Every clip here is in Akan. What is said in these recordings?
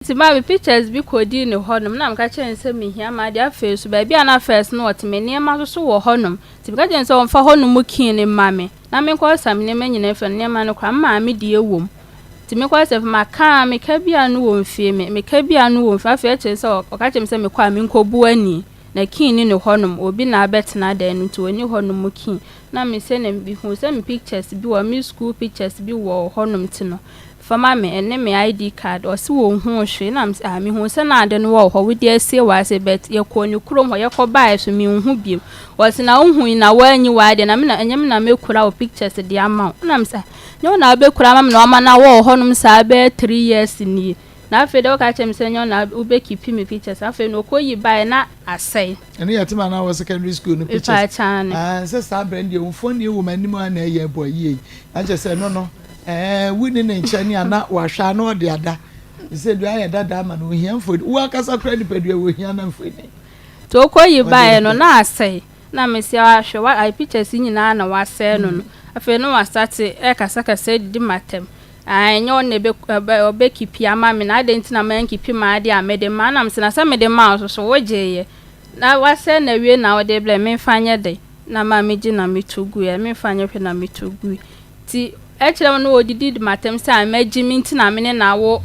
Ntsi maa me pictures bi kodii no hɔnom na meka kyerɛɛ no sɛ mehia m'ade afei nso baabi a na first no wɔte me nneɛma nso so wɔ hɔnom nti meka kyerɛɛ no sɛ ɔmfa hɔnom key no mma me na menkɔ nsa me nneɛma nyinaa mfiri hɔ, nneɛma no koraa me maame deɛ wom nti mekɔ nsa mfiri maka a meka bi a no wɔ mfie me meka bi a no wɔ mfie afei akyire sɛ ɔka kyerɛ me sɛ mekɔ a menkɔbu ani na key no ni hɔnom obi na abɛtena dan no nti ɔni hɔnom key na me sɛ na me hu sɛ me pictures bi wɔ me school pictures bi wɔ hɔ nom nti no fa ma me ɛne me ID card ɔse wɔ hu hwee na me sɛ ah me hu sɛ na ade no wɔ hɔ wode asie wɔ ase but yɛ kɔɔ ne kurom hɔ yɛ kɔ baɛ so me nhu biom ɔse na wo hu yi na woanyi wɔ adeɛ na me na ɛnyɛ me na mɛ kura wɔ pictures de ama wo na me sɛ ah nyɛ wo na wobɛ kura ama me na wama na wɔ hɔ nom saa bɛɛ three years nie. Na afei dɛ ɔka kyerɛ me sɛ nyew na wo bɛ keepi me pictures afei na ɔkɔ yi baɛ na asɛe. Ɛno yɛ tema no a wɔ secondary school no pictures. Mepaa kyaa no. Aah sɛ saa berɛ no deɛ wo phone yɛ wɔ m'anim a na ɛyɛ bɔ yie na kyerɛ sɛ ɛno no ɛɛ wo nni ne nkyɛn a na wahwɛ a na ɔde ada sɛ dua ayɛ dada ama no ɔhia mfoni wo ankasa koraa nipadua wɔ hia na mfoni. Nti ɔkɔ yi baɛ no na asɛe na me se ah hwɛ w'ayɛ pictures yi nyinaa na wasɛe no no afei na wasate ɛɛkasakasa ɛɛdidi m'atɛm Ae, ɛnyɛ ɔno na ɛbɛ, ɛbɛ, ɔbɛkipi ama me, na adɛn nti na mankipi m'adeɛ a mede maa no? Anamse, na sɛ mede maa wo so so, wogyeeɛ? Na wasɛe no awie na wode rebrɛ me, memfa nyɛ dɛn? Na ma megye na meto guiɛ, memfa nyɛ hwɛ na meto gui. Nti, ɛkyerɛ me no wɔdidi de m'atɛm sɛ a magye me nti na me ne no awo,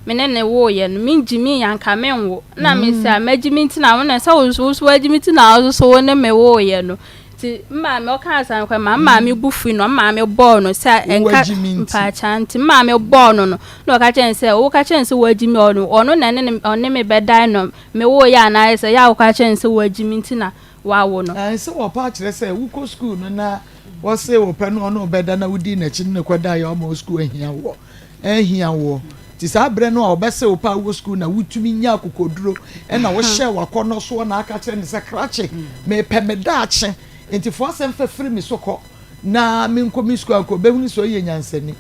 me ne no woeɛ no, mengye me a anka menwo. Ɛna mese a magye me nti na wo ne, sɛ wo nso, wo nso woagye me nti na wo nso so wo ne me woeɛ no. Nti maame ɔka asa no kora ma maame bu fui no maame bɔɔ no sɛ ɛnka mpaakya nti maame bɔɔ no no na ɔka kyɛn sɛ ɔwɔ ka kyɛn sɛ wɔagyi mi ɔno ɔno na ɛne ɔne me bɛdan no me wo yɛ anaayɛ sɛ yɛ a wɔka kyɛn sɛ wɔagyi mi nti na wawo no. Ɛn sɛ wɔpa akyerɛ sɛ wokɔ sukuu no na wɔse wɔpɛ no ɔne ɔbɛda na wodi n'akyi ne ne kɔda yɛ ɔma ɔsukuu ahia wɔ Anhia woɔ. Nti saa berɛ no a ɔbɛsee wo paa wɔ sukuu na wotumi nyaa akokoduro na wohyɛɛ w'akɔnnɔ soɔ na aka akyerɛ no sɛ, Krakye, mepɛ me daakye, nti fa w'asɛm fa firi me so kɔ na menkɔ me sukuu ankɔ bɛhunu sɛ woyɛ nyansani.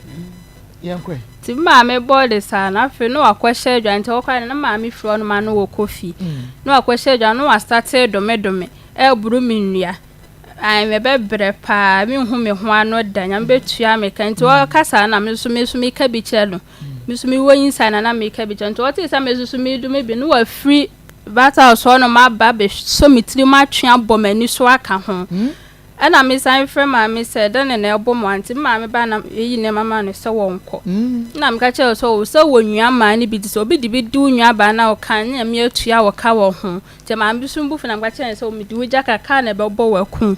Yɛnkɔ ɛ. Nti me maame bɔɔ de saa no afei na wakɔhyɛ adwa nti hɔ koraa deɛ na maame firi hɔ nom a na ɔkɔ fie na wakɔhyɛ adwa na wastate redome dome ɛreboro me nnua. Ae, mebɛbrɛ paa, menhu me ho ano da, Nyame bɛtua me ka. Nti ɔka saa na me nso me nso meka bi kyerɛ no. Me nso mewɔ nyisaa na na meka bi kyerɛ no. Nti ɔtee sɛ me nso so medome bi no wafiri batal soɔ no maba bɛsɔ me tiri mu atwe abɔ m'ani so aka ho. Hmm? Ɛna mesan frɛ maame sɛ dɛn na ɛbɔ mo ante. Maame ba na ɛyi nneɛma ma no sɛ wɔn kɔ. Nna meka kyerɛɛ wo sɛ ɔwɔ sɛ ɔwɔ nuammaa no bi te sɛ obi de bi di wo nuabaa no a ɔka no na meatua wo ka wɔ ho. Nti ɛmaa me so bo fuui na meka kyerɛɛ no sɛ, 'Mede ogya kakaa na ɛbɛbɔ w'akum.